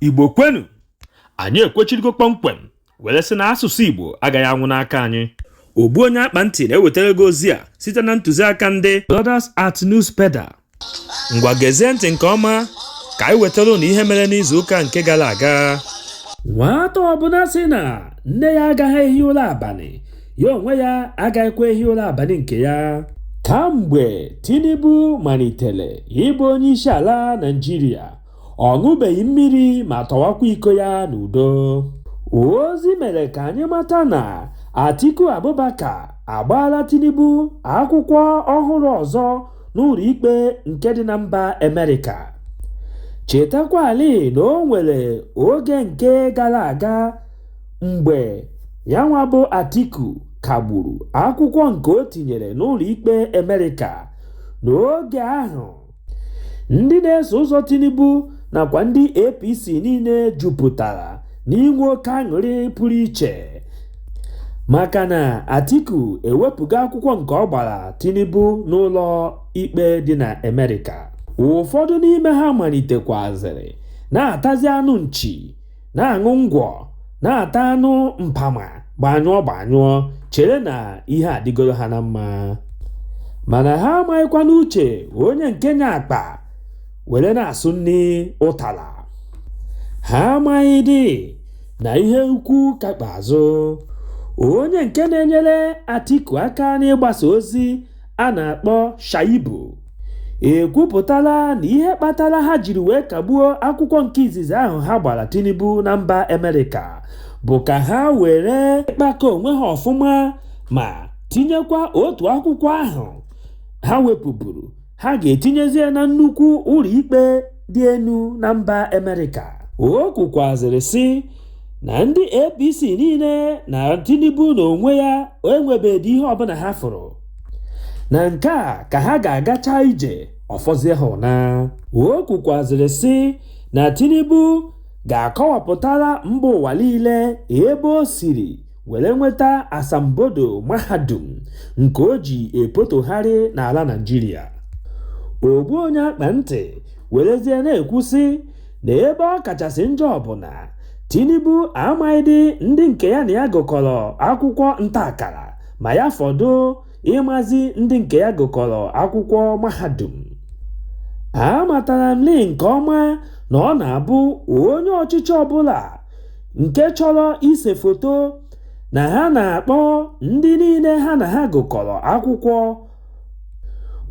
igbo kwenu anyị ekwechirigo kpọmkwem were sị na asụsụ igbo agaghị anwụ n'aka anyị ogbu onye akpa ntị na-ewetara gị ozi a site na ntụziaka ndị Brothers at Newspeda ngwa gezie ntị nke ọma ka anyị wetara ụnụ ihe mere n'izu ụka nke gara aga nwata ọbụla sị na nne ya agaghị ehi ụra abalị ya onwe ya agaghịkwa ehi ụra abalị nke ya kamgbe tinubu malitere ịbụ onye isi ala naịjirịa ọ ṅụbeghị mmiri ma tọwakwa iko ya n'udo ozi mere ka anyị mata na atiku abubakar agbaala tinubu akwụkwọ ọhụrụ ọzọ n'ụlọ ikpe nke dị na mba amerịka chetakwali na o nwere oge nke gara aga mgbe ya nwa bụ Atiku kagburu akwụkwọ nke o tinyere n'ụlọikpe Amerịka n'oge ahụ ndị na-eso ụzọ Tinubu nakwa ndị APC niile jupụtara n'inwe oke aṅụrị pụrụ iche maka na Atiku ewepụgo akwụkwọ nke ọ gbara Tinubu n'ụlọ ikpe dị na Amerịka ụfọdụ n'ime ha malitekwazịrị na-atazi anụ nchi na-aṅụ ngwọ na-ata anụ mpama gbanyụọ gbanyụọ chere na ihe adịgoro ha na mma mana ha amaghịkwanụ uche onye nke nya akpa were na-asụ nri ụtara ha amaghịdị na ihe ukwu ka kpa azụ onye nke na-enyere Atiku aka n'ịgbasa ozi a na-akpọ Shaibu ekwupụtala na ihe kpatara ha jiri wee kagbuo akwụkwọ nke izizi ahụ ha gbara Tinubu na mba Amerịka bụ ka ha were kpakọọ onwe ha ọfụma ma tinyekwa otu akwụkwọ ahụ ha wepụburu ha ga-etinyezie na nnukwu ụlọikpe dị elu na mba Amerịka o kwukwazịrị sị na ndị APC niile na Tinubu na onwe ya enwebeghịdị ihe ọbụla ha fụrụ na nke a ka ha ga-agacha ije ọ fọzie ha ụna o kwukwazịrị sị na Tinubu ga-akọwapụtara mba ụwa niile ebe o siri were nweta asambodo mahadum nke o ji epotogharị n'ala Naịjirịa ogbu onye akpa ntị werezie na-ekwu sị na ebe ọ kachasị njọ bụ na Tinubu amaghịdị ndị nke ya na ya gụkọrọ akwụkwọ nta akara ma ya fọdụ ịmazi ndị nke ya gụkọrọ akwụkwọ mahadum amatara m lee nke ọma na ọ na-abụ onye ọchịchị ọbụla nke chọrọ ise foto na ha na-akpọ ndị niile ha na ha gụkọrọ akwụkwọ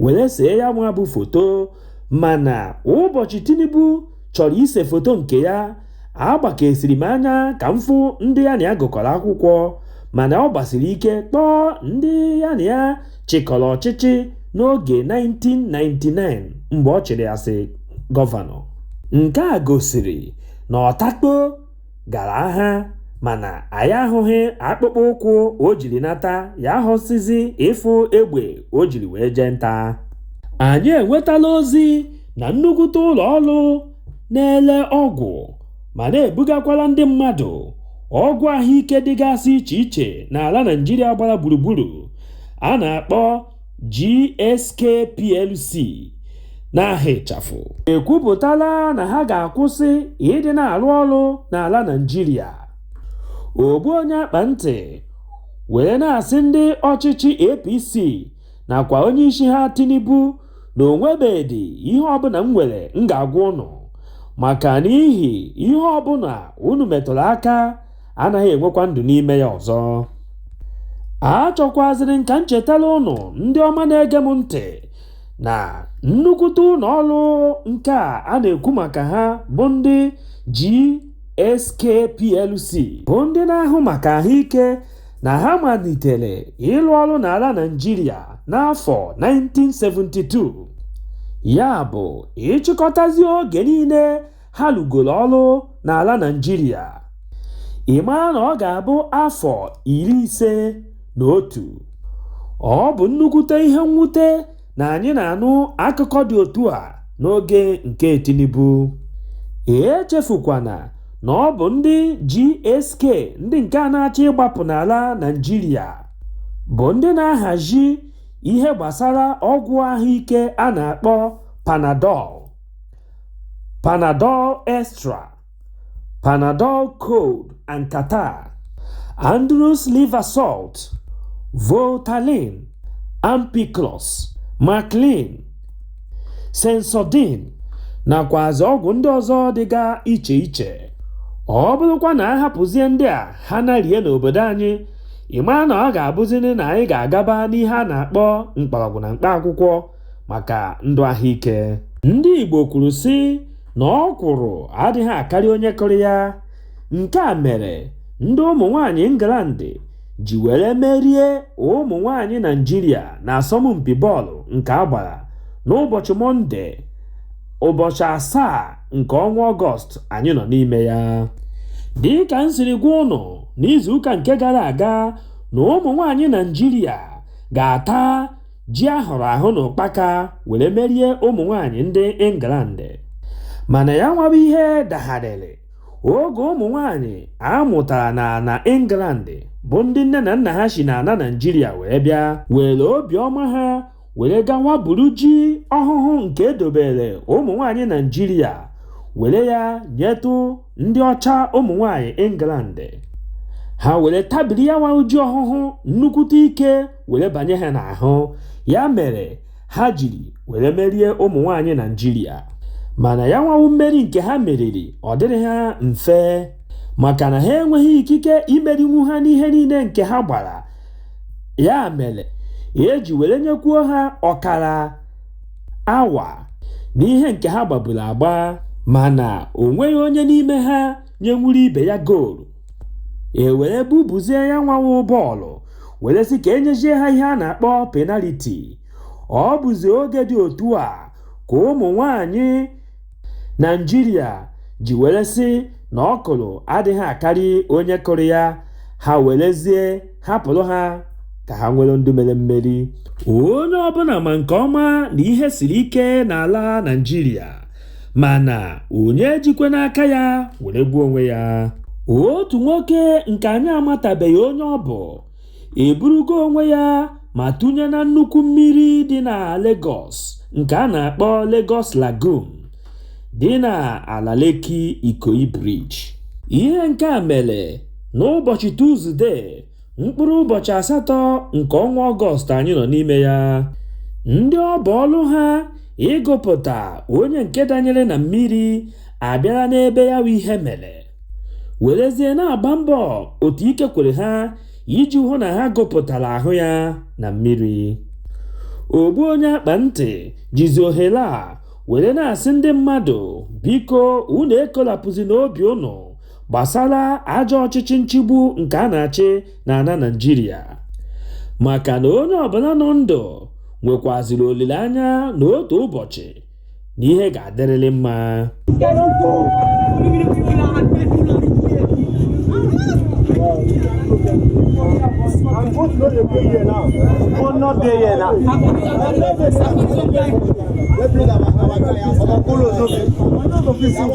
were see ya nwa bụ foto mana ụbọchị Tinubu chọrọ ise foto nke ya agbakesiri m anya ka m fụ ndị ya na ya gụkọrọ akwụkwọ mana ọ gbasiri ike kpọọ ndị ya na ya chịkọrọ ọchịchị n'oge 1999 mgbe ọ chịrị as gọvanọ nke a gosiri na ọtakpo gara agha mana anyị ahụghị akpụkpọ ụkwụ o jiri nata ya ahụsịzi ịfụ egbe o jiri wee jee nta anyị enwetala ozi na nnukwute ụlọ ọrụ na-ele ọgwụ ma na-ebugakwala ndị mmadụ ọgwụ ahụike dịgasị iche iche n'ala Naịjirịa gbara gburugburu a na-akpọ GSK plc n'aha ịchafụ ekwupụtala na ha ga-akwụsị ịdị na-arụ ọrụ n'ala Naịjirịa ogbu onye akpa ntị were na-asị ndị ọchịchị APC nakwa onye isi ha Tinubu na o nwebedị ihe ọbụla m nwere m ga-agwa unu maka n'ihi ihe ọbụla unu metụrụ aka anaghị enwekwa ndụ n'ime ya ọzọ achọkwazịrị m ka m chetara unu ndị ọma na-ege m ntị na nnukwute ụlọ ọrụ nke a a na-ekwu maka ha bụ ndị GSK PLC bụ ndị na-ahụ maka ahụike na ha malitere ịlụ ọrụ n'ala Naịjirịa n'afọ 1972 ya bụ ị chịkọtazi oge niile ha lụgoro ọrụ n'ala Naịjirịa ị mara na ọ ga-abụ afọ iri ise na otu ọ bụ nnukwute ihe mwute na anyị na-anụ akụkọ dị otu a n'oge nke Tinubu echefukwana na ọ bụ ndị GSK ndị nke a na-achọ ịgbapụ n'ala Naịjirịa bụ ndị na-ahazi ihe gbasara ọgwụ ahụike a na-akpọ Panadol Panadol Extra Panadol Cold and Catarrh, Andrews Liver Salt, Voltaren, Ampiclox, Maclean, Sensodyne nakwazi ọgwụ ndị ọzọ dịga iche iche. Ọ bụrụkwa na a hapụzie ndị a ha narie n'obodo anyị, ị mara na ọ ga-abụzinụ na anyị ga-agaba n'ihe a na-akpọ mkpọrọgwụ na mkpa akwụkwọ. maka ndụ ahụike ndị Igbo kwuru sị na ọkwụrụ adịghị akarị onye kụrụ ya nke a mere ndị ụmụ nwanyị England ji were merie ụmụ nwanyị Naịjirịa na asọmpi bọọlụ nke a gbara n'ụbọchị Mọnde ụbọchị asaa nke ọnwa Ọgọst anyị nọ n'ime ya dị ka m siri gwa ụnụ n'izuụka nke gara aga na ụmụ nwanyị Naịjirịa ga-ata ji a hụrụ ahụ na ụkpaka were merie ụmụ nwaanyị ndị England mana ya nwa bụ ihe dagharịrị oge ụmụ nwaanyị a mụtara na na England bụ ndị nne na nna ha si na ala Naịjirịa wee bịa were obiọma ha were gawa buru ji ọhụhụ nke e dobere ụmụ nwaanyị Naịjirịa were ya nyetụ ndị ọcha ụmụ nwaanyị England ha were tabiri ya nwa ji ọhụhụ nnukwute ike were banye ha n'ahụ ya mere ha jiri were merie ụmụ nwaanyị naijiria mana ya nwa wụ mmeri nke ha meriri ọ dịrị ha mfe maka na ha enweghị ikike imerinwu ha n'ihe niile nke ha gbara ya mere e ji were nyekwuo ha ọkara awa n'ihe nke ha gbaburu agba mana o nweghị onye n'ime ha nyenwuru ibe ya goolu e were bubuzie ya nwa wụ bọọlụ were sị ka e nyezie ha ihe a na-akpọ penaliti ọ bụzi oge dị otu a ka ụmụ nwanyị naijiria ji were sị na ọkwụrụ adịghị akarị onye kụrụ ya ha werezie hapụrụ ha ka ha nwere ndụ merie mmeri onye ọbụla ma nke ọma na ihe siri ike n'ala naijiria mana onye ejikwana aka ya were gbuo onwe ya otu nwoke nke anyị amatabeghị onye ọ bụ eburugo onwe ya ma tụnye na nnukwu mmiri dị na Lagos nke a na-akpọ Lagos Lagoon dị na ala Lekki Ikoyi Bridge ihe nke a mere n'ụbọchị Tuzdee mkpụrụ ụbọchị asatọ nke ọnwa ọgọst anyị nọ n'ime ya ndị ọ bụ ọlụ ha ịgụpụta onye nke danyere na mmiri abịara n'ebe ya bụ ihe mere werezie na-agba mbọ otu ike kwere ha iji hụ na ha gụpụtara ahụ ya na mmiri ogbu onye akpa ntị jizi ohere a were na-asị ndị mmadụ biko unu ekolapụzina obi ụnụ gbasara ajọ ọchịchị nchịgbu nke a na-achị na ana Naịjirịa maka na onye ọbụla nọ ndụ nwekwaziri olileanya na otu ụbọchị na ihe ga-adịrịrị mma I'm going to know the day here now. But not day here now. Let's play that. Our guy, our Polo, no.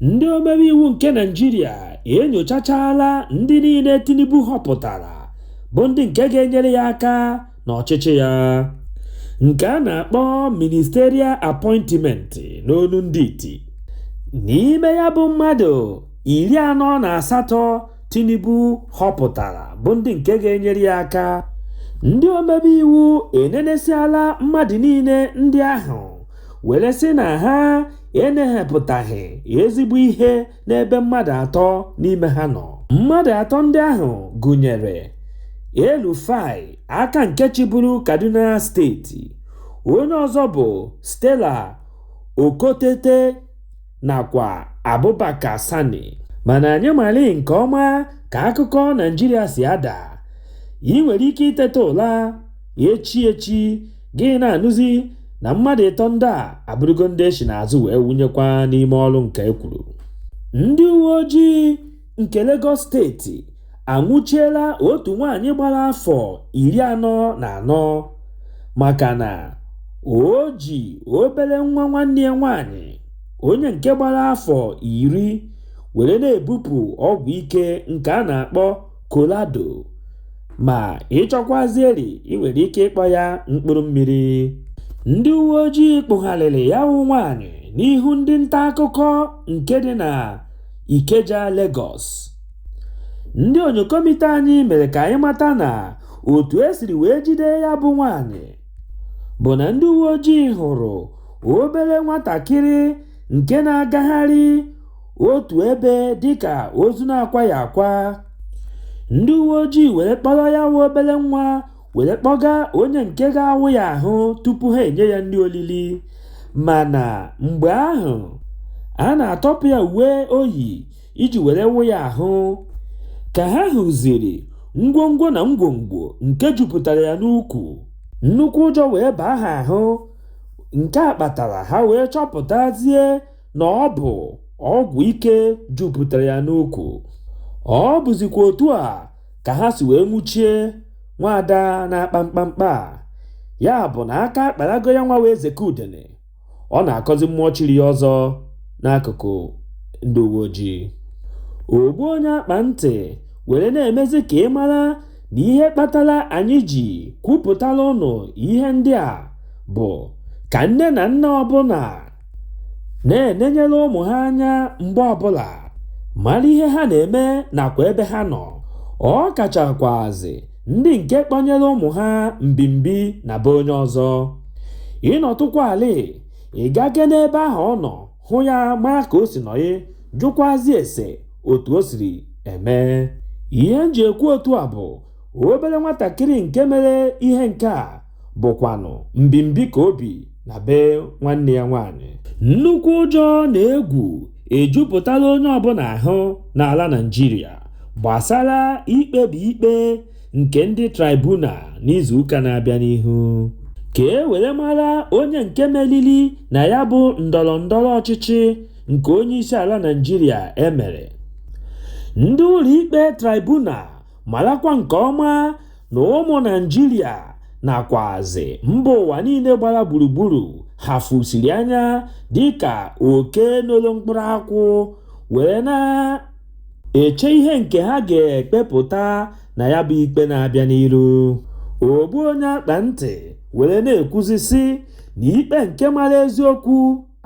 ndị omebe iwu nke naijiria enyochachala ndị niile tinubu họpụtara bụ ndị nke ga-enyere ya aka n'ọchịchị ya nke a na-akpọ ministerial appointment n'onu ndị iti n'ime ya bụ mmadụ iri anọ na asatọ tinubu họpụtara bụ ndị nke ga-enyere ya aka ndị omebe iwu enenesiala mmadụ niile ndị ahụ were sị na ha enehepụtaghị ezigbo ihe n'ebe mmadụ atọ n'ime ha nọ mmadụ atọ ndị ahụ gụnyere el-rufai aka nke chịburu kaduna steeti onye ọzọ bụ stella okotete nakwa abubakar sani mana anyị mali nke ọma ka akụkọ naijiria si ada ị nwere ike iteta ụla echi echi gị na-anụzi na mmadụ ịtọ ndị a abụrụgo ndị e si n'azụ wee wụnyekwa n'ime ọrụ nke e kwuru ndị uwe ojii nke Lagos steeti anwụchiela otu nwaanyị gbara afọ iri anọ na anọ maka na o ji obere nwa nwanne ya nwaanyị onye nke gbara afọ iri were na-ebupụ ọgwụ ike nke a na-akpọ Colorado. Ma ị chọkwazieri i nwere ike ịkpọ ya mkpụrụ mmiri. Ndị uwe ojii kpụgharịrị ya wụ nwaanyị n'ihu ndị nta akụkọ nke dị na Ikeja, Lagos. Ndị onyokomite anyị mere ka anyị mata na otu e siri wee jide ya bụ nwaanyị bụ na ndị uwe ojii hụrụ obere nwatakịrị nke na-agagharị otu ebe dịka ozu na-akwaghị akwa ndị uwe ojii were kpọrọ ya wụ obere nwa were kpọga onye nke ga-awụ ya ahụ tupu ha enye ya nri olili mana mgbe ahụ a na-atọpụ ya uwe o yi iji were wụ ya ahụ ka ha hụziri ngwongwo na ngwongwo nke jupụtara ya n'ukwu nnukwu ụjọ wee baa ha ahụ nke a kpatara ha wee chọpụtazie na ọ bụ ọgwụ ike jupụtara ya n'ukwu. Ọ bụzikwa otu a ka ha si wee nwụchie nwaada na-akpa mkpamkpa a. Ya bụ na aka akparago ya nwa wee zeke udene. Ọ na-akọzi mmụọ chiri ya ọzọ n'akụkụ ndị uwe ojii. Ogbu onye akpa ntị were na-emezi ka ị mara na ihe kpatara anyị ji kwupụtara ụnụ ihe ndị a bụ ka nne na nna ọbụla na-enenyere ụmụ ha anya mgbe ọbụla mara ihe ha na-eme nakwa ebe ha nọ ọ kachakwazi ndị nke kpọnyere ụmụ ha mbimbi na be onye ọzọ ị nọtụkwa ala ị gake n'ebe ahụ ọ nọ hụ ya mara ka o si nọ ị jụkwazi ese otu o siri eme ihe m ji ekwu otu a bụ obere nwatakịrị nke mere ihe nke a bụkwanụ mbimbi ka o bi na be nwanne ya nwaanyị nnukwu ụjọ na egwu ejupụtala onye ọbụla ahụ n'ala Naịjirịa gbasara ikpebi ikpe nke ndị tribunal n'izuụka na-abịa n'ihu ka e were mara onye nke meriri na ya bụ ndọrọ ndọrọ ọchịchị nke onye isi ala Naịjirịa e mere ndị ụlọikpe tribunal marakwa nke ọma na ụmụ naịjirịa nakwazi mba ụwa niile gbara gburugburu ha fusiri anya dịka oke nolu mkpụrụ akwụ wee na-eche ihe nke ha ga-ekpepụta na ya bụ ikpe na-abịa n'iru ogbu onye akpa ntị were na-ekwuzi sị na ikpe nke mara eziokwu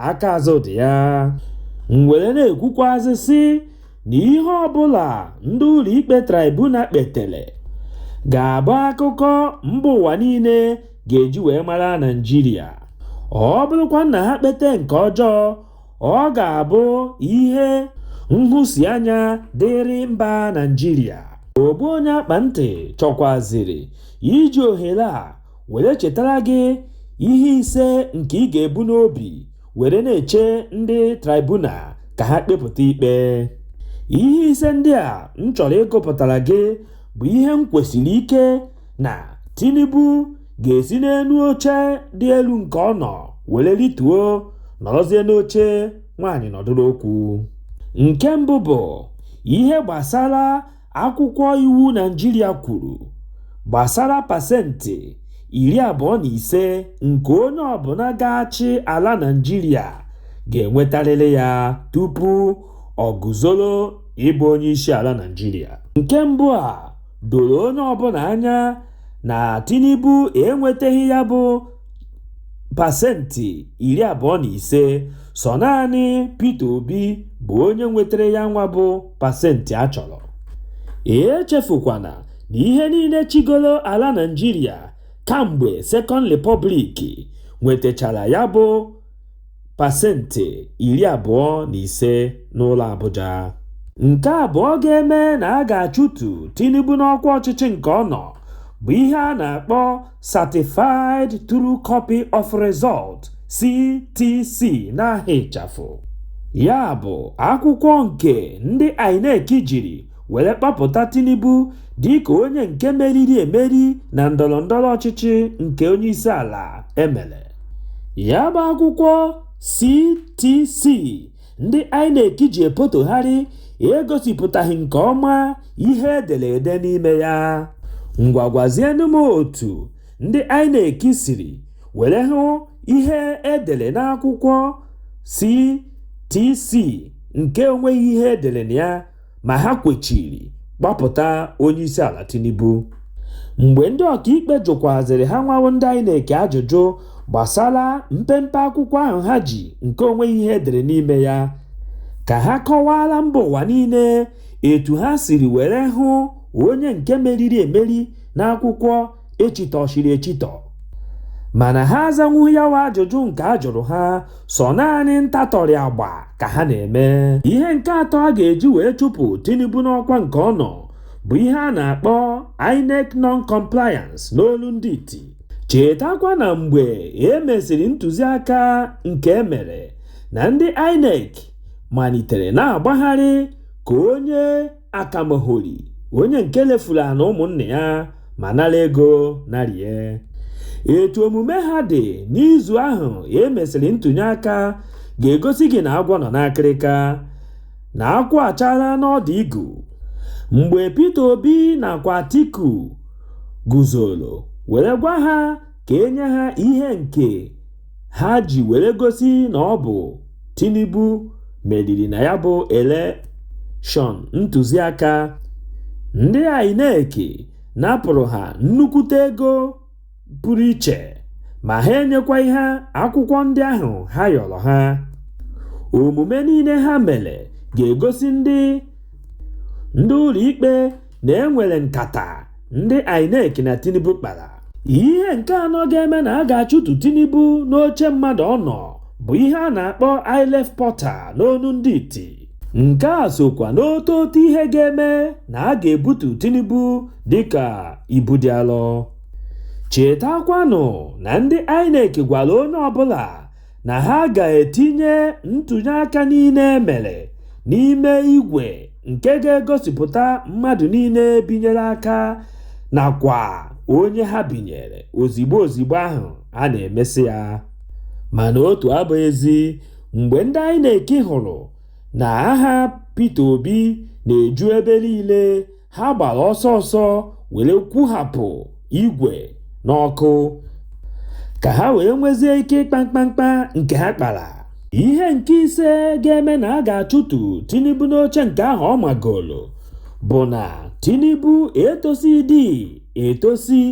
aka azụ dị ya m were na-ekwukwazị sị na ihe ọbụla ndị ụlọikpe tribunal kpetele ga-abụ akụkọ mba ụwa niile ga-eji wee mara naịjirịa ọ bụrụkwa na ha kpete nke ọjọọ ọ ga-abụ ihe nhụsianya dịrị mba naịjirịa ogbu onye akpa ntị chọkwaziri iji ohere a were chetara gị ihe ise nke ị ga-ebu n'obi were na-eche ndị tribunal ka ha kpepụta ikpe ihe ise ndị a m chọrọ ịgụpụtara gị bụ ihe m kwesiri ike na Tinubu ga-esi n'elu oche dị elu nke ọ nọ were rituo nọrọzie n'oche nwaanyị nọdụrụ okwu nke mbụ bụ ihe gbasara akwụkwọ iwu naijiria kwuru gbasara pasentị iri abụọ na ise nke onye ọbụla ga-achị ala naijiria ga-enwetarịrị ya tupu ọ guzoro ịbụ onye isi ala naijiria nke mbụ a doro onye ọbụla anya na tinubu enwetaghị ya bụ pasentị iri abụọ na ise sọ naanị peter obi bụ onye nwetara ya nwa bụ pasentị a chọrọ echefukwana na ihe niile chịgoro ala Naịjirịa kamgbe Second Republic nwetachara ya bụ pasentị iri abụọ na ise n'ụlọ Abuja nke abụọ ga-eme na a ga-achụtu Tinubu n'ọkwa ọchịchị nke ọ nọ bụ ihe a na-akpọ Certified True Copy of Result CTC n'aha ịchafụ ya bụ akwụkwọ nke ndị INEC jiri were kpọpụta Tinubu dịka onye nke meriri emeri na ndọrọndọrọ ọchịchị nke onyeisiala emere ya bụ akwụkwọ CTC ndị INEC ji epotogharị egosipụtaghị nke ọma ihe edere ede n'ime ya. Ngwa gwazienụ m otu ndị INEC siri were hụ ihe edere n'akwụkwọ CTC nke onweghị ihe edere na ya ma ha kwechiri gbapụta onye isi ala Tinubu mgbe ndị ọkaikpe jụkwazịrị ha nwa wụ ndị INEC ajụjụ gbasara mpempe akwụkwọ ahụ ha ji nke onweghị ihe edere n'ime ya ka ha kọwaara mba ụwa niile etu ha siri were hụ onye nke meriri emeri n'akwụkwọ echitọchiri echitọ mana ha azanwughị ya wa ajụjụ nke a jụrụ ha sọ naanị ntatọrị agba ka ha na-eme ihe nke atọ a ga-eji wee chụpụ Tinubu n'ọkwa nke ọ nọ bụ ihe a na-akpọ INEC non-compliance n'olu ndị iti chetakwa na mgbe e mesịrị ntụziaka nke e mere na ndị INEC malitere na-agbagharị ka onye akamahori onye nke lefuru ana ụmụnne ya ma nara ego narie etu omume ha dị n'izu ahụ e mesịrị ntụnye aka ga-egosi gị na agwọ nọ n'akịrịka na akwụ achaala n'ọdụ igu mgbe Peter Obi nakwa Atiku guzoro were gwa ha ka e nye ha ihe nke ha ji were gosi na ọ bụ Tinubu meriri na ya bụ elekshọn ntụziaka ndị INEC napụrụ ha nnukwute ego pụrụ iche ma ha enyekwaghị ha akwụkwọ ndị ahụ ha yọrọ ha omume niile ha mere ga-egosi ndị ndị ụlọikpe na e nwere nkata ndị INEC na Tinubu kpara ihe nke anọ ga-eme na a ga-achụtu Tinubu n'oche mmadụ ọ nọ bụ ihe a na-akpọ IReV portal n'onu ndị iti nke a sokwa n'otu otu ihe ga-eme na a ga-ebutu Tinubu dịka ibu dị alọ chetakwanụ na ndị INEC gwara onye ọbụla na ha ga-etinye ntụnyeaka niile e mere n'ime igwe nke ga-egosipụta mmadụ niile binyere aka nakwa onye ha binyere ozigbo ozigbo ahụ a na-emesị ya. Mana otu abụghị ezi mgbe ndị INEC hụrụ na aha Peter Obi na-eju ebe niile ha gbara ọsọ ọsọ were kwụhapụ igwe n'ọkụ ka ha wee nwezie ike ịkpa mkpamkpa nke ha kpara ihe nke ise ga-eme na a ga-achụtu Tinubu n'oche nke ahụ ọ magolo bụ na Tinubu etosidị etosi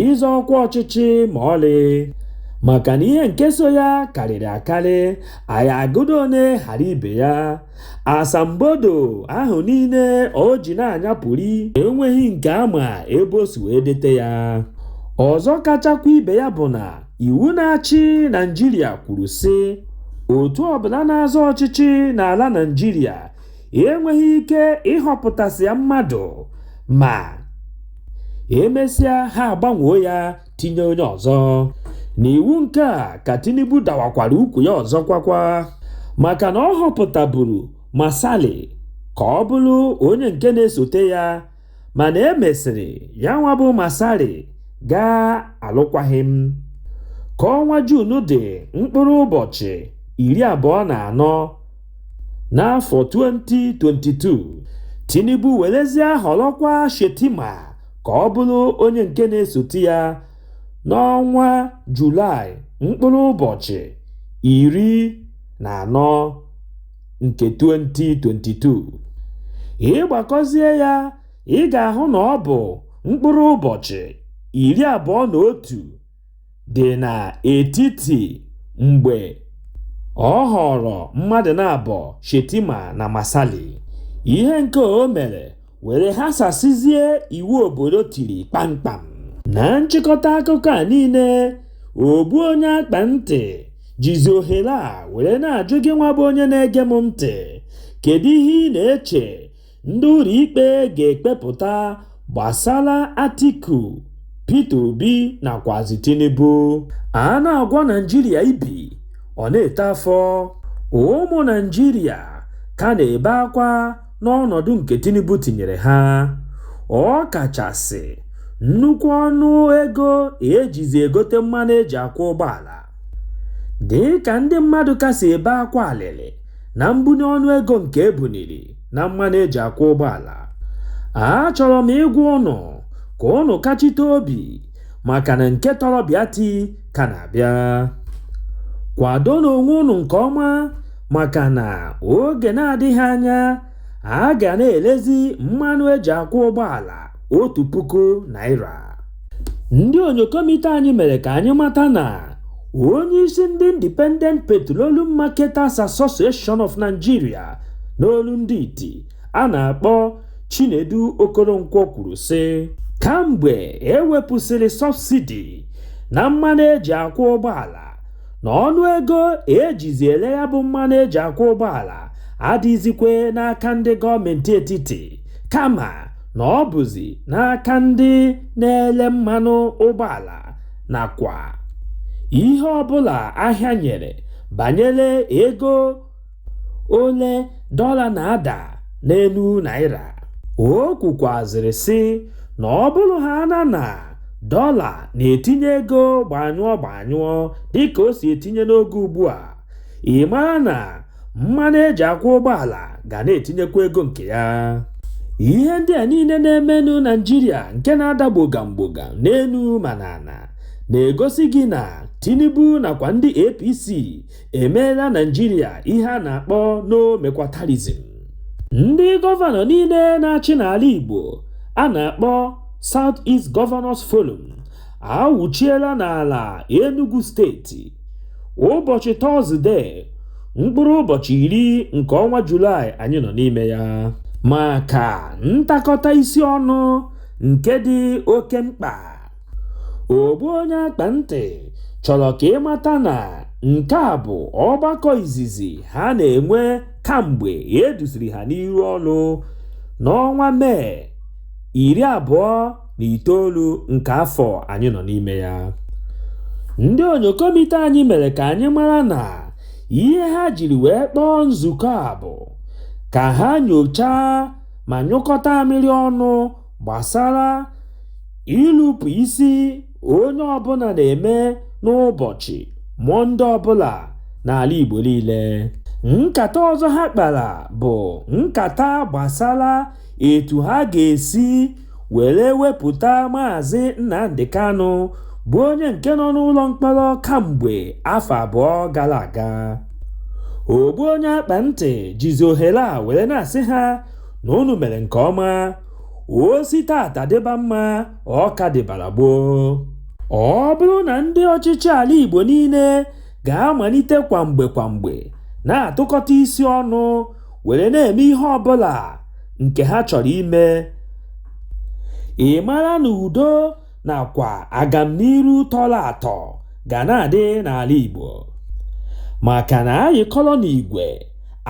ịzọ ọkwa ọchịchị ma ọlị maka na ihe nke so ya karịrị akarị anyị agụdị one ghara ibe ya asambodo ahụ niile o ji na-anyapụri enweghị nke a ma ebe o si wee dete ya ọzọ kachakwa ibe ya bụ na iwu na-achị Naịjirịa kwuru sị otu ọbụla na-azọ ọchịchị n'ala Naịjirịa enweghị ike ịhọpụtasịa mmadụ ma emesịa ha agbanwoo ya tinye onye ọzọ n'iwu nke a ka Tinubu dawakwara ukwu ya ọzọ kwakwa maka na ọ họpụtaburu Masari ka ọ bụrụ onye nke na-esote ya mana e mesịrị ya nwa bụ Masari gbaa alụkwaghịm ka ọnwa Juun dị mkpụrụ ụbọchị iri abụọ na anọ n'afọ 2022 Tinubu werezie họrọkwa Shettima ka ọ bụrụ onye nke na-esote ya n'ọnwa Julaị mkpụrụ ụbọchị iri na anọ nke 2022. Ị gbakọzie ya, ị ga-ahụ na ọ bụ mkpụrụ ụbọchị iri abụọ na otu dị n'etiti mgbe ọ họọrọ mmadụ naabọ Shettima na Masali. Ihe nke o mere were ghasasịzie iwu obodo tiri kpamkpam. Na nchịkọta akụkọ a niile, ogbu onye akpa ntị jizi ohere a were na-ajụ gị nwa bụ onye na-ege m ntị, kedu ihe ị na-eche Ndị ụlọikpe ga-ekpepụta gbasara Atiku, Peter Obi nakwazi Tinubu. A na-agwọ Naịjirịa ibi, ọ na-eto afọ. Ụmụ Naịjirịa ka na-ebe akwa n'ọnọdụ nke Tinubu tinyere ha, ọ kachasị nnukwu ọnụ ego e jizi egote mmanụ e ji akwọ ụgbọala. Dịka ndị mmadụ ka si ebe akwa alịlị na mbuni ọnụ ego nke e buniri, na mmanụ eji akwụ ụgbọala achọrọ m ịgwa ụnụ ka ụnụ kachite obi maka na nke tọrọ bịa ti ka na-abịa kwadonụ onwe ụnụ nke ọma maka na oge na-adịghị anya a ga na-elezi mmanụ eji akwụ ụgbọala otu puku naira ndị onyokomite anyị mere ka anyị mata na onye isi ndị Independent Petroleum Marketers Association of Nigeria n'olu ndị iti a na-akpọ Chinedu Okoronkwo kwuru sị kamgbe ewepụsịrị sọbsidi na mmanụ eji akwọ ụgbọala na ọnụ ego ejizi ele ya bụ mmanụ eji akwọ ụgbọala adịzikwe n'aka ndị gọọmenti etiti kama na ọ bụzi n'aka ndị na-ele mmanụ ụgbọala nakwa ihe ọbụla ahịa nyere banyere ego ole dọla na-ada n'elu naira. O kwukwazịrị sị na ọ bụrụ haana na dọla na-etinye ego gbanyụọ gbanyụọ dịka o si etinye n'oge ugbua, ị mara na mmanụ eji akwọ ụgbọala ga na-etinyekwa ego nke ya ihe ndị a niile na-emenụ naijiria nke na-ada gbogam gbogam n'elu ma n'ala na-egosi gị na tinubu nakwa ndị apc emeela naijiria ihe a na-akpọ n'omekwatarizm ndị gọvanọ niile na-achị n'ala igbo a na-akpọ south east governors forum awụchiela n'ala Enugu steeti ụbọchị tọzdee mkpụrụ ụbọchị iri nke ọnwa Julaị anyị nọ n'ime ya maka ntakọta isi ọnụ nke dị oke mkpa ogbu onye akpa ntị chọrọ ka ị mata na nke a bụ ọgbakọ izizi ha na-enwe kamgbe eduziri ha n'iru ọrụ n'ọnwa mee iri abụọ na itoolu nke afọ anyị nọ n'ime ya ndị onyokomite anyị mere ka anyị mara na ihe ha jiri wee kpọọ nzukọ a bụ ka ha nyochaa ma nyụkọta amịrị ọnụ gbasara ịlụpụ isi onye ọbụla na-eme n'ụbọchị mọnde ọbụla n'ala Igbo niile nkata ọzọ ha kpara bụ nkata gbasara etu ha ga-esi were wepụta Maazị Nnamdi Kanu bụ onye nke nọ n'ụlọ mkpọrọ kamgbe afọ abụọ gara aga. Ogbu onye akpa ntị jizi ohere a were na-asị ha na unu mere nke ọma, o si taata dịba mma ọ ka dịbara gboo. Ọ bụrụ na ndị ọchịchị ala Igbo niile ga-amalite kwa mgbe kwa mgbe na-atụkọta isi ọnụ were na-eme ihe ọbụla nke ha chọrọ ime ị mara na udo nakwa agamniru tọrọ atọ ga na-adị n'ala Igbo maka na a yịkọrọ n'igwe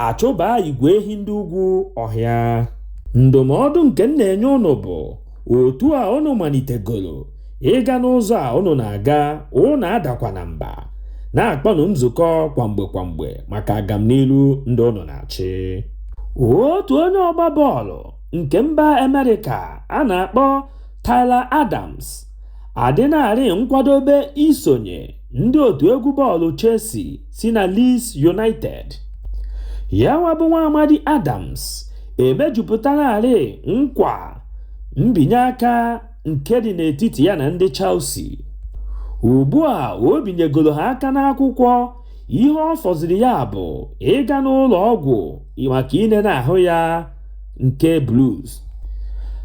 achụba igwe ehi ndị ugwu ọhịa ndụmọdụ nke m na-enye unu bụ otu a unu malitegoro ịga n'ụzọ a unu na-aga unu adakwana mba na-akpọnụ nzukọ kwa mgbe kwa mgbe maka agamnilu ndị unu na-achị otu onye ọgba bọọlụ nke mba amerịka a na-akpọ Tyler Adams adịnarị nkwadobe isonye ndị otu egwu bọọlụ Chelsea si na Leeds United ya wa bụ nwa amadi Adams emejupụtanarị nkwa mbinye aka nke dị n'etiti ya na ndị Chelsea. Ugbu a o binyegoro ha aka n'akwụkwọ, ihe ọ fọziri ya bụ ịga n'ụlọ ọgwụ maka inene ahụ ya nke Blues.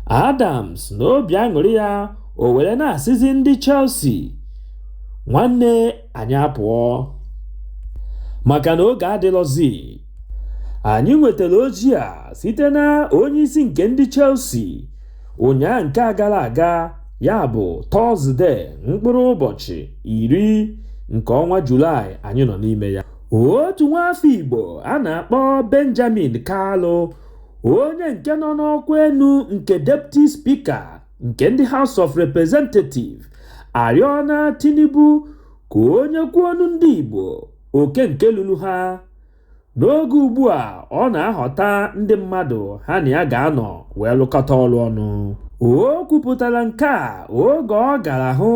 Adams na obi aṅụrị ya o were na-asịzi ndị Chelsea, "Nwanne anyị apụọ. Maka na oge adịlọzi." Anyị nwetara ozi a site na onyeisi nke ndị Chelsea ụnyaa nke a gara aga ya bụ tọzde mkpụrụ ụbọchị iri nke ọnwa julaị anyị nọ n'ime ya otu nwaafọ igbo a na-akpọ benjamin kalu onye nke nọ n'ọkwa enu nke deputy speaker nke ndị house of representative arịọna tinubu ka o nyekwuonụ ndị igbo oke nke lulu ha N'oge ugbu a, ọ na-ahọta ndị mmadụ ha na ya ga-anọ wee lụkọta ọlụ ọnụ. O kwupụtara nke a oge ọ gara hụ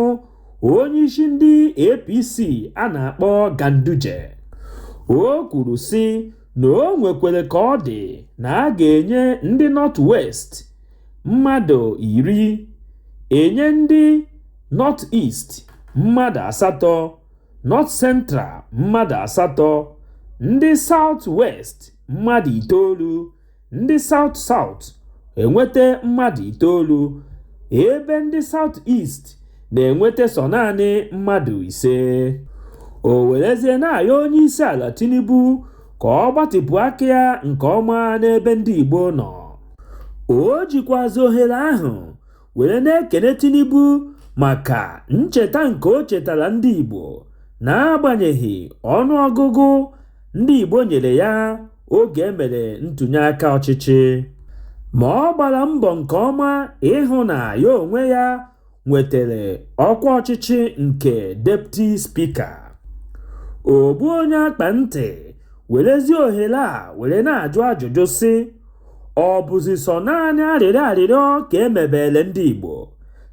onyeisi ndị APC a na-akpọ Ganduje. O kwuru sị na o nwekwere ka ọ dị na a ga-enye ndị North West mmadụ iri, enye ndị North East mmadụ asatọ, North Central mmadụ asatọ, ndị South West mmadụ itoolu, ndị South South enweta mmadụ itoolu, ebe ndị South East na-enweta sọ naanị mmadụ ise. O werezie na-ayọ onyeisiala Tinubu ka ọ gbatịpụ aka ya nke ọma n'ebe ndị Igbo nọ. O jikwazị ohere ahụ were na-ekene Tinubu maka ncheta nke o chetara ndị Igbo n'agbanyeghị ọnụọgụgụ ndị Igbo nyere ya oge e mere ntụnye aka ọchịchị ma ọ gbara mbọ nke ọma ịhụ na ya onwe ya nwetara ọkwa ọchịchị nke Deputy Speaker ogbu onye akpa ntị werezie ohere a were na-ajụ ajụjụ sị ọ bụzi sọ naanị arịrịọ arịrịọ ka e mebele ndị Igbo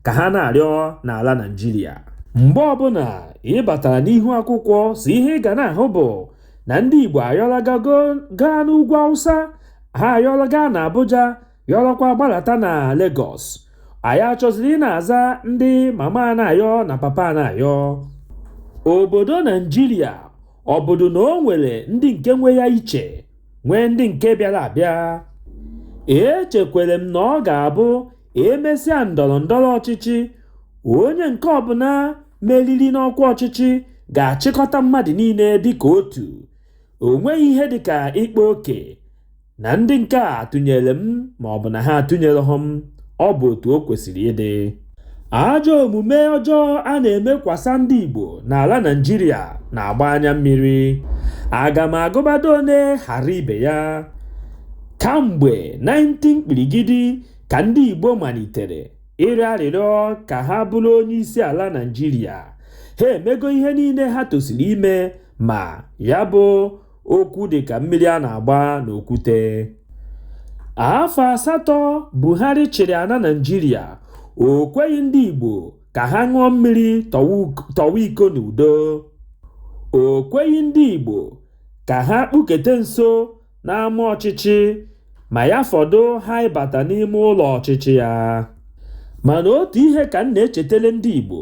ka ha na-arịọ n'ala Naịjirịa mgbe ọbụla ị batara n'ihu akwụkwọ isi ihe ị ga na-ahụ bụ na ndị Igbo ayọlaga gaa n'ugwu Awụsa ha ayọlaga na Abuja yọrọkwa gbalata na Lagos anyị achọziri ị na-aza ndị mama na-ayọ na papa na-ayọ obodo Naijiria ọ bụdụ na o nwere ndị nke nwe ya iche nwee ndị nke bịara abịa echekwere m na ọ ga-abụ e mesịa ndọrọ ndọrọ ọchịchị onye nke ọbụla meriri n'ọkwa ọchịchị ga-achịkọta mmadụ niile dịka otu o nweghị ihe dịka ịkpa oke na ndị nke a tụnyere m ma ọ bụ na ha atụnyerehụ m ọ bụ otu o kwesịrị ịdị Ajọ omume ọjọọ a na-emekwasa ndị Igbo n'ala Naịjirịa na-agba anya mmiri. Aga m agụbado one ghara ibe ya. Kamgbe 19 kpirigidi ka ndị Igbo malitere ịrịọ arịrịọ ka ha bụrụ onyeisiala Naịjirịa, ha emego ihe niile ha tosiri ime ma ya bụ okwu dị ka mmiri a na-agba n'okwute afọ asatọ Buhari chịrị ana Naijiria o kweghị ndị igbo ka ha ṅụọ mmiri tọwa iko n'udo o kweghị ndị igbo ka ha kpukete nso n'ama ọchịchị ma ya fọdụ ha ịbata n'ime ụlọ ọchịchị ya mana otu ihe ka m na-echetele ndị igbo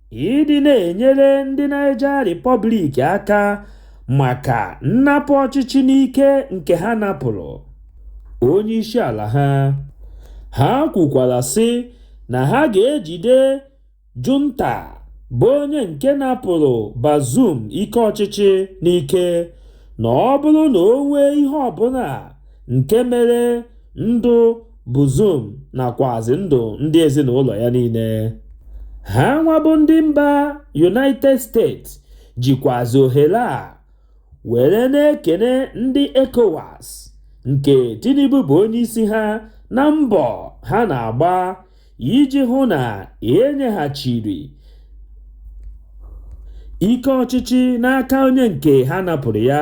ịdị na-enyere ndị Niger Republic aka maka nnapụ ọchịchị n'ike nke ha napụrụ onye isi ala ha ha kwukwara sị na ha ga-ejide junta bụ onye nke napụrụ Bazoum ike ọchịchị n'ike na ọ bụrụ na o nwee ihe ọbụla nke mere ndụ Bazoum nakwazi ndụ ndị ezinụlọ ya niile. Ha nwa bụ ndị mba United States jikwazi ohere a were na-ekene ndị ECOWAS nke Tinubu bụ onye isi ha na mbọ ha na-agba iji hụ na e nyeghachiri ike ọchịchị n'aka onye nke ha napụrụ ya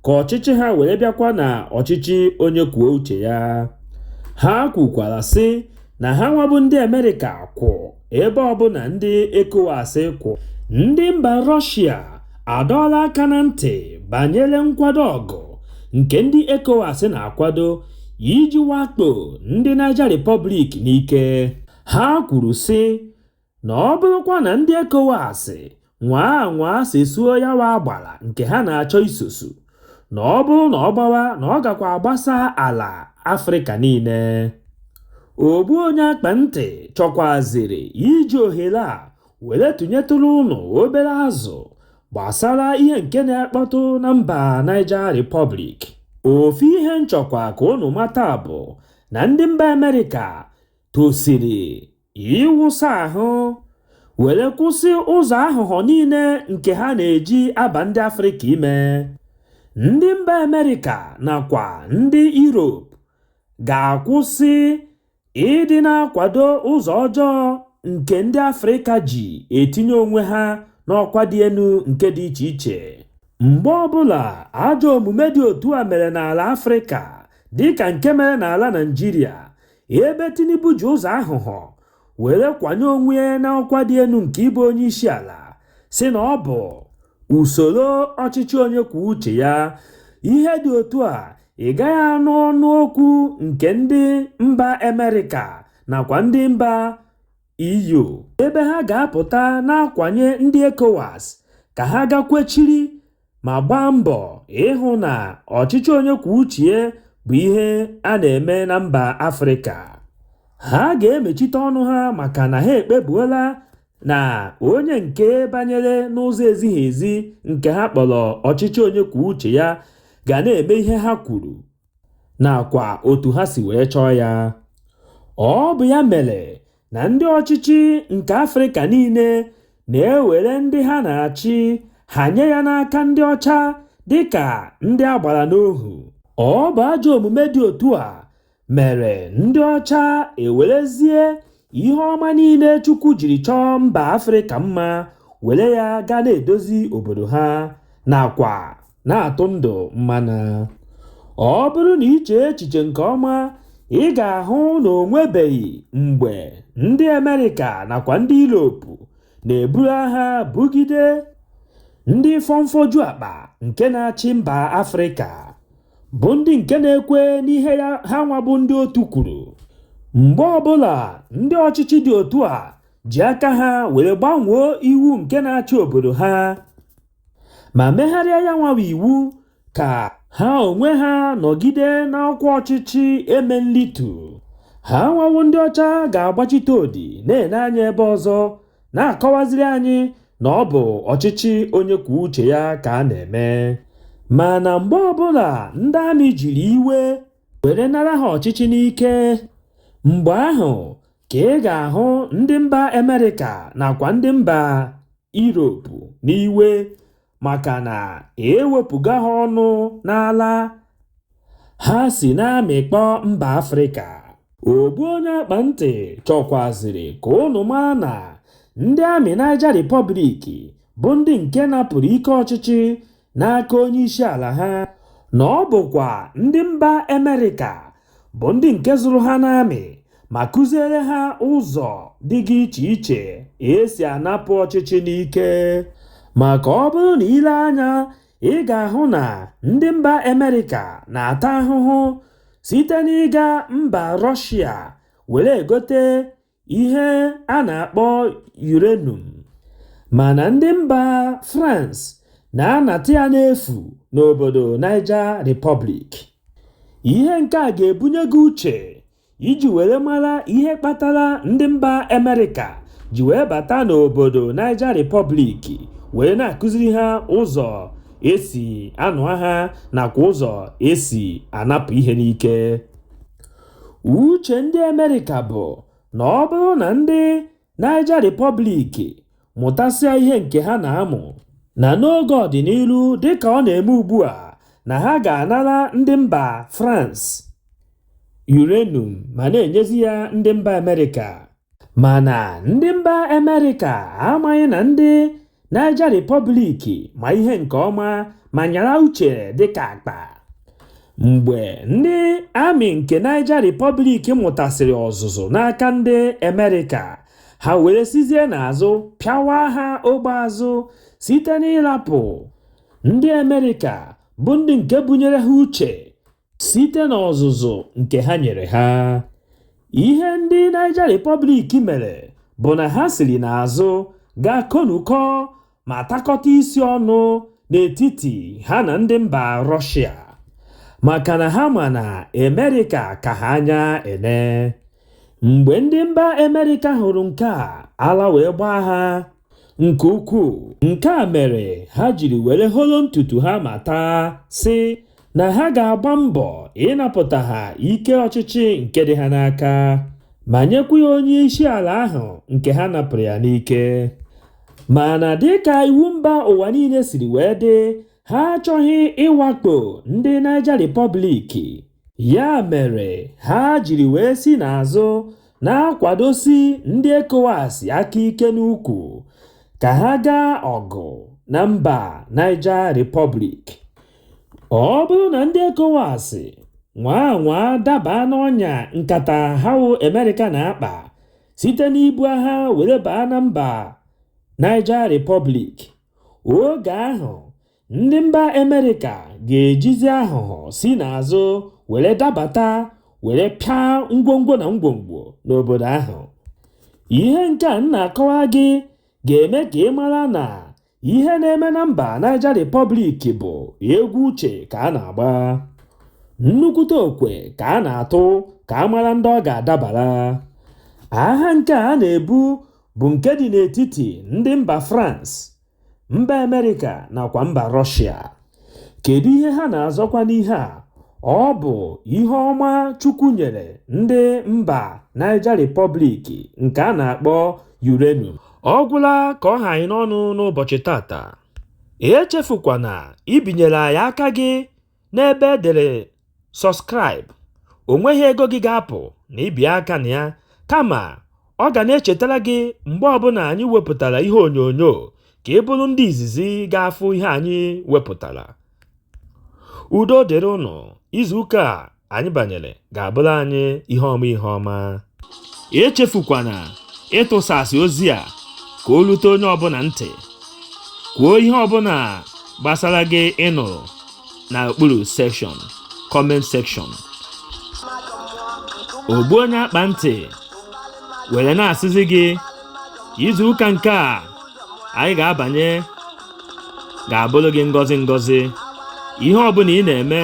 ka ọchịchị ha were bịakwa na ọchịchị onye kwuo uche ya ha kwukwara sị na ha nwabụ ndị Amerịka kwụ ebe ọbụla ndị ECOWAS kwụ ndị mba Rọshia adọọla aka na ntị banyere nkwado ọgụ nke ndị ECOWAS na-akwado iji wakpo ndị Niger Republic n'ike. Ha kwuru sị na ọ bụrụkwa na ndị ECOWAS nwaa anwaa sesuo ya wa agbara nke ha na-achọ isosu na ọ bụrụ na ọ gbawa na ọ gakwa agbasa ala Afrịka niile. Ogbu onye akpa ntị chọkwazịrị iji ohere a were tụnyetụrụ ụnụ obere azụ gbasara ihe nke na-akpọtụ na mba Niger Republic ofu ihe m chọkwa ka ụnụ mata bụ na ndị mba Amerịka tosiri ịwụsa ahụ were kwụsị ụzọ aghụghọ niile nke ha na-eji aba ndị Afrịka ime ndị mba Amerịka nakwa ndị Europe ga-akwụsị Ịdị na-akwado ụzọ ọjọọ nke ndị Afrịka ji etinye onwe ha n'ọkwa dị elu nke dị iche iche. Mgbe ọbụla ajọ omume dị otu a mere n'ala Afrịka, dịka nke mere n'ala Naịjirịa, ebe Tinubu ji ụzọ aghụghọ were kwanye onwe ya n'ọkwa dị elu nke ịbụ onyeisiala, sị na ọ bụ usoro ọchịchị onye kwuo uche ya, ihe dị otu a ị gaghị anụ ọnụ okwu nke ndị mba Amerịka nakwa ndị mba EU ebe ha ga-apụta na-akwanye ndị ECOWAS ka ha gaa kwechiri ma gbaa mbọ ịhụ na ọchịchị onye kwuo uche bụ ihe a na-eme na mba Afrịka. Ha ga-emechite ọnụ ha maka na ha ekpebuola na onye nke banyere n'ụzọ ezighị ezi nke ha kpọrọ ọchịchị onye kwuo uche ya ga na-eme ihe ha kwuru nakwa otu ha si wee chọọ ya. Ọ bụ ya mere na ndị ọchịchị nke Afrịka niile na-ewere ndị ha na-achị ha nye ya n'aka ndị ọcha dịka ndị a gbara n'ohu. Ọ bụ ajọ omume dị otu a mere ndị ọcha ewerezie ihe ọma niile Chukwu jiri chọọ mba Afrịka mma were ya gaa na-edozi obodo ha nakwa na-atụ ndụ mmanụ. Ọ bụrụ na i chee echiche nke ọma, ị ga-ahụ na o nwebeghị mgbe ndị Amerịka nakwa ndị Europe na-eburu agha bugide ndị fọmfọju akpa nke na-achị mba Afrịka. bụ ndị nke na-ekwe n'ihe ya ha nwa bụ ndị otu kwuru mgbe ọbụla ndị ọchịchị dị otu a ji aka ha were gbanwee iwu nke na-achị obodo ha ma megharịa ya nwa wụ iwu ka ha onwe ha nọgide n'ọkwa ọchịchị eme nlitu ha nwa wụ ndị ọcha ga-agbachite odi na-ene anya ebe ọzọ na-akọwaziri anyị na ọ bụ ọchịchị onye kwuo uche ya ka a na-eme mana mgbe ọbụla ndị amị jiri iwe were nara ha ọchịchị n'ike mgbe ahụ ka ị ga-ahụ ndị mba Amerịka nakwa ndị mba Europe n'iwe maka na ewepụga ha ọnụ n'ala ha si na-amịkpọ mba Afrịka ogbu onye akpa ntị chọkwaziri ka ụnụ maa na ndị amị Niger Republic bụ ndị nke napụrụ ike ọchịchị n'aka onye isi ala ha na ọ bụkwa ndị mba Amerịka bụ ndị nke zụrụ ha n'amị ma kụziere ha ụzọ dịga iche iche e si anapụ ọchịchị n'ike maka ọ bụrụ na i lee anya ị ga-ahụ na ndị mba Amerịka na-ata ahụhụ site n'ịga mba Rọshia were egote ihe a na-akpọ uranium mana ndị mba France na-anata ya n'efu n'obodo Niger Republic. Ihe nke a ga-ebunye gị uche iji were mara ihe kpatara ndị mba Amerịka ji wee bata n'obodo Niger Republic wee na-akụziri ha ụzọ e si anụ agha nakwa ụzọ e si anapụ ihe n'ike. Uche ndị Amerịka bụ na ọ bụrụ na ndị Niger Republic mụtasịa ihe nke ha na-amụ, na n'oge ọdịnihu dịka ọ na-eme ugbu a na ha ga-anara ndị mba France uranium ma na-enyezi ya ndị mba Amerịka. Mana ndị mba Amerịka amaghị na ndị Niger Republic ma ihe nke ọma ma nyara uche dịka akpa. Mgbe ndị army nke Niger Republic mụtasịrị ọzụzụ n'aka ndị Amerịka, ha were sizie n'azụ pịawa ha ogbe azụ site n'ịrapụ ndị Amerịka bụ ndị nke bunyere ha uche site n'ọzụzụ nke ha nyere ha ihe ndị Niger Republic mere bụ na ha siri n'azụ gaa konukọ ma takọta isi ọnụ n'etiti ha na ndị mba Rọshịa maka na ha ma na Amerịka ka ha anya ene mgbe ndị mba Amerịka hụrụ nke a ala wee gbaa ha nke ukwuu nke a mere ha jiri were holo ntutu ha ma taa sị na ha ga-agba mbọ ịnapụta ha ike ọchịchị nke dị ha n'aka ma nyekwa ya onye isi ala ahụ nke ha napụrụ ya n'ike mana dịka iwu mba ụwa niile siri wee dị ha achọghị ịwakpo ndị Niger Republic ya mere ha jiri wee si n'azụ na-akwadosi ndị ECOWAS aka ike n'ukwu ka ha gaa ọgụ na mba Niger Republic. Ọ bụrụ na ndị ECOWAS nwaa anwaa daba n'ọnya nkata ahụ Amerịka na-akpa site n'ibu agha were baa na mba Niger Republic, oge ahụ ndị mba Amerịka ga-ejizi aghụghọ si n'azụ were dabata were pịa ngwongwo na ngwongwo n'obodo ahụ. Ihe nke a m na-akọwa gị ga-eme ka ị mara na ihe na-eme na mba Niger Republic bụ egwu uche ka a na-agba. Nnukwute okwe ka a na-atụ ka a mara ndị ọ ga-adabara. Agha nke a na-ebu bụ nke dị n'etiti ndị mba France mba Amerịka nakwa mba Rọshịa kedu ihe ha na-azọkwa n'ihe a ọ bụ ihe ọma Chukwu nyere ndị mba Niger Republic nke a na-akpọ uranium ọ gwụla ka ọ ha anyị n'ọnụ n'ụbọchị tata echefukwana ibinyere anyị aka gị n'ebe e dere subscribe o nweghị ego gị ga-apụ na ibi aka na ya kama ọ ga na-echetara gị mgbe ọbụna anyị wepụtara ihe onyonyo ka ị bụrụ ndị izizi ga-afụ ihe anyị wepụtara udo dịrị ụnụ izuụka a anyị banyere ga-abụrụ anyị ihe ọma ihe ọma echefukwana ịtụsasị ozi a ka o rute onye ọbụna ntị kwuo ihe ọbụna gbasara gị ị nụrụ na okpuru section comment section ogbu onye akpa ntị were na-asịzi gị izu ụka nke a anyị ga-abanye ga-abụrụ gị ngọzi ngọzi ihe ọbụla ị na-eme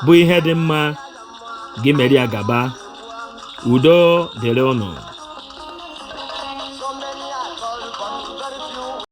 bụ ihe dị mma gị mere ya gaba udo dịrị ụnụ